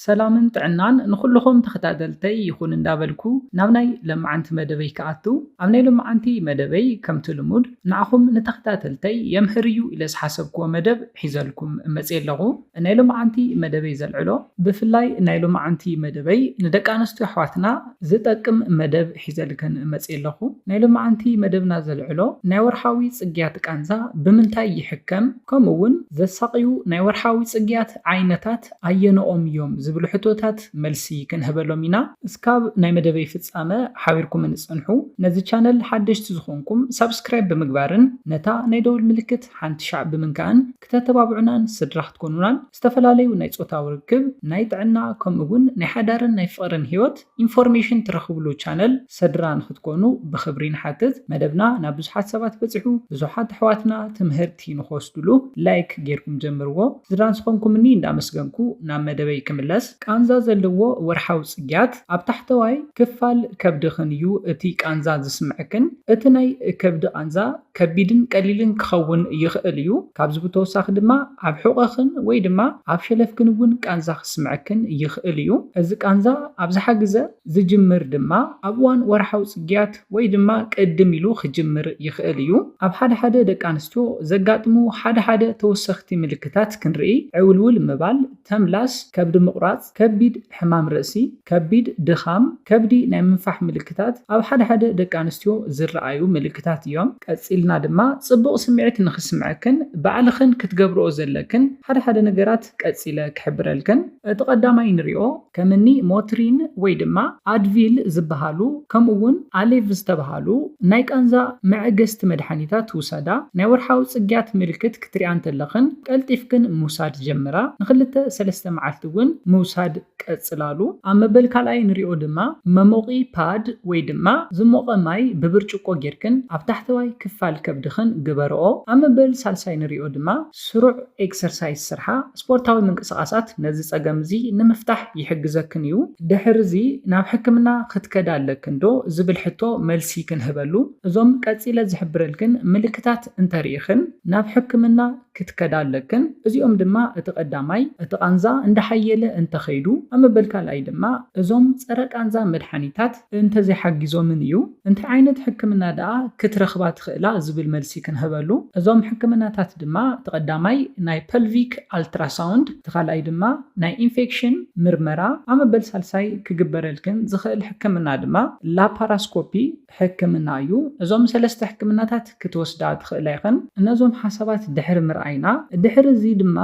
ሰላምን ጥዕናን ንኹሉኹም ተኸታተልተይ ይኹን እንዳበልኩ ናብ ናይ ለማዓንቲ መደበይ ክኣቱ ኣብ ናይ ሎማዓንቲ መደበይ ከምቲ ልሙድ ንዓኹም ንተኸታተልተይ የምህር እዩ ኢለ ዝሓሰብኩዎ መደብ ሒዘልኩም መጽየ ኣለኹ ናይ ሎማዓንቲ መደበይ ዘልዕሎ ብፍላይ ናይ ሎማዓንቲ መደበይ ንደቂ ኣነስትዮ ኣሕዋትና ዝጠቅም መደብ ሒዘልክን መጽየ ኣለኹ ናይ ሎማዓንቲ መደብና ዘልዕሎ ናይ ወርሓዊ ጽግያት ቃንዛ ብምንታይ ይሕከም ከምኡ ውን ዘሳቕዩ ናይ ወርሓዊ ጽግያት ዓይነታት ኣየነኦም እዮም ዝብሉ ሕቶታት መልሲ ክንህበሎም ኢና። እስካብ ናይ መደበይ ፍጻመ ሓቢርኩምኒ ጽንሑ። ነዚ ቻነል ሓደሽቲ ዝኾንኩም ሳብስክራይብ ብምግባርን ነታ ናይ ደወል ምልክት ሓንቲ ሻዕ ብምንካእን ክተተባብዑናን ስድራ ክትኮኑናን ዝተፈላለዩ ናይ ጾታዊ ርክብ፣ ናይ ጥዕና ከምኡ ውን ናይ ሓዳርን ናይ ፍቕርን ሂወት ኢንፎርሜሽን ትረኽብሉ ቻነል ሰድራ ንክትኮኑ ብኽብሪ ንሓትት መደብና ናብ ብዙሓት ሰባት በጺሑ ብዙሓት ኣሕዋትና ትምህርቲ ንክወስድሉ ላይክ ጌርኩም ጀምርዎ ስድራን ስኾንኩምኒ እንዳመስገንኩ ናብ መደበይ ክምለስ ቃንዛ ዘለዎ ወርሓዊ ጽግያት ኣብ ታሕተዋይ ክፋል ከብድኽን እዩ እቲ ቃንዛ ዝስምዐክን እቲ ናይ ከብዲ ቃንዛ ከቢድን ቀሊልን ክኸውን ይኽእል እዩ፣ ካብዚ ብተወሳኺ ድማ ኣብ ሕቖኽን ወይ ድማ ኣብ ሸለፍክን እውን ቃንዛ ክስምዐክን ይኽእል እዩ። እዚ ቃንዛ ኣብዝሓ ግዘ ዝጅምር ድማ ኣብ እዋን ወርሓዊ ፅግያት ወይ ድማ ቅድም ኢሉ ክጅምር ይኽእል እዩ። ኣብ ሓደ ሓደ ደቂ ኣንስትዮ ዘጋጥሙ ሓደ ሓደ ተወሰኽቲ ምልክታት ክንርኢ ዕውልውል ምባል፣ ተምላስ፣ ከብዲ ምቑራፅ፣ ከቢድ ሕማም ርእሲ፣ ከቢድ ድኻም ከብዲ ናይ ምንፋሕ ምልክታት ኣብ ሓደ ሓደ ደቂ ኣንስትዮ ዝረኣዩ ምልክታት እዮም። ቀጺልና ድማ ጽቡቕ ስምዒት ንኽስምዐክን ባዕልኽን ክትገብርኦ ዘለክን ሓደ ሓደ ነገራት ቀጺለ ክሕብረልክን። እቲ ቀዳማይ ንሪኦ ከም እኒ ሞትሪን ወይ ድማ ኣድቪል ዝበሃሉ ከምኡ እውን ኣሌቭ ዝተብሃሉ ናይ ቃንዛ መዐገስቲ መድሓኒታት ውሰዳ። ናይ ወርሓዊ ጽግያት ምልክት ክትሪኣ እንተለኽን ቀልጢፍክን ምውሳድ ጀምራ። ንኽልተ ሰለስተ መዓልቲ እውን ምውሳድ። ቀጽላሉ። ኣብ መበል ካልኣይ ንሪኦ ድማ መሞቒ ፓድ ወይ ድማ ዝሞቐ ማይ ብብርጭቆ ጌርክን ኣብ ታሕተዋይ ክፋል ከብድኽን ግበርኦ። ኣብ መበል ሳልሳይ ንሪኦ ድማ ስሩዕ ኤክሰርሳይዝ ስርሓ። ስፖርታዊ ምንቅስቓሳት ነዚ ጸገም እዚ ንምፍታሕ ይሕግዘክን እዩ። ድሕሪ እዚ ናብ ሕክምና ክትከዳ ኣለክን ዶ ዝብል ሕቶ መልሲ ክንህበሉ። እዞም ቀጺለ ዝሕብረልክን ምልክታት እንተርኢኽን ናብ ሕክምና ክትከዳ ኣለክን። እዚኦም ድማ እቲ ቀዳማይ እቲ ቃንዛ እንዳሓየለ እንተኸይዱ ኣብ መበል ካልኣይ ድማ እዞም ጸረ ቃንዛ መድሓኒታት እንተዘይሓጊዞምን እዩ። እንታይ ዓይነት ሕክምና ደኣ ክትረኽባ ትኽእላ ዝብል መልሲ ክንህበሉ። እዞም ሕክምናታት ድማ እቲ ቀዳማይ ናይ ፐልቪክ ኣልትራሳውንድ እቲ ካልኣይ ድማ ናይ ኢንፌክሽን ምርመራ ኣብ መበል ሳልሳይ ክግበረልክን ዝኽእል ሕክምና ድማ ላፓራስኮፒ ሕክምና እዩ። እዞም ሰለስተ ሕክምናታት ክትወስዳ ትኽእላ ኢኽን። እነዞም ሓሳባት ድሕሪ ምርኣይና፣ ድሕሪ እዚ ድማ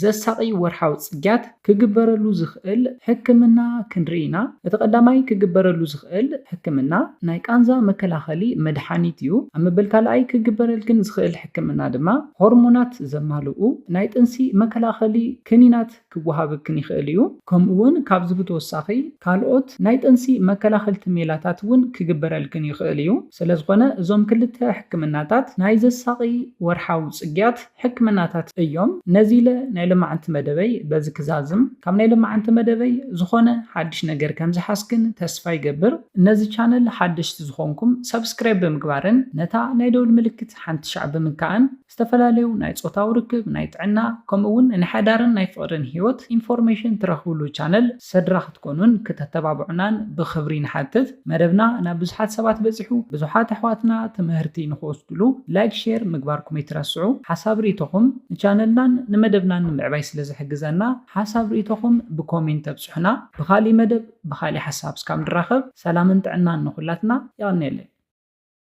ዘሳቒ ወርሓዊ ጽግያት ክግበረሉ ዝኽእል ሕክምና ክንርኢ ኢና። እቲ ቀዳማይ ክግበረሉ ዝኽእል ሕክምና ናይ ቃንዛ መከላኸሊ መድሓኒት እዩ። ኣብ መበል ካልኣይ ክግበረልክን ዝኽእል ሕክምና ድማ ሆርሞናት ዘማልኡ ናይ ጥንሲ መከላኸሊ ክኒናት፣ ክወሃበክን ይኽእል እዩ። ከምኡ'ውን ካብዚ ብተወሳኺ ካልኦት ናይ ጥንሲ መከላኸልቲ ሜላታት እውን ክግበረልክን ይኽእል እዩ። ስለዝኾነ እዞም ክልተ ሕክምናታት ናይ ዘሳቒ ወርሓዊ ጽግያት ሕክምናታት እዮም። ነዚለ ናይ ሎማዕንቲ መደበይ በዚ ክዛዝም። ካብ ናይ ሎማዕንቲ መደበይ ዝኾነ ሓድሽ ነገር ከምዝሓዝክን ተስፋ ይገብር። ነዚ ቻነል ሓደሽቲ ዝኾንኩም ሳብስክራይብ ብምግባርን ነታ ናይ ደውል ምልክት ሓንቲ ሻዕ ብምንካእን፣ ዝተፈላለዩ ናይ ጾታዊ ርክብ፣ ናይ ጥዕና፣ ከምኡ'ውን ናይ ሓዳርን ናይ ፍቕርን ህይወት ኢንፎርሜሽን ትረኽብሉ ቻነል ሰድራ ክትኮኑን ክተተባብዑናን ብኽብሪ ንሓትት። መደብና ናብ ብዙሓት ሰባት በጺሑ፣ ብዙሓት ኣሕዋትና ትምህርቲ ንኽወስድሉ ላይክ ሼር ምግባርኩም ኣይትረስዑ። ሓሳብ ርኢቶኹም ንቻነልናን ንመደብናን ንምዕባይ ስለ ዝሕግዘና ሓሳብ ርኢቶኹም ብኮሜንት ኣብጽሑና። ብኻልእ መደብ ብኻልእ ሓሳብ እስካብ ንራኸብ ሰላምን ጥዕናን ንኹላትና። የቐንየለይ።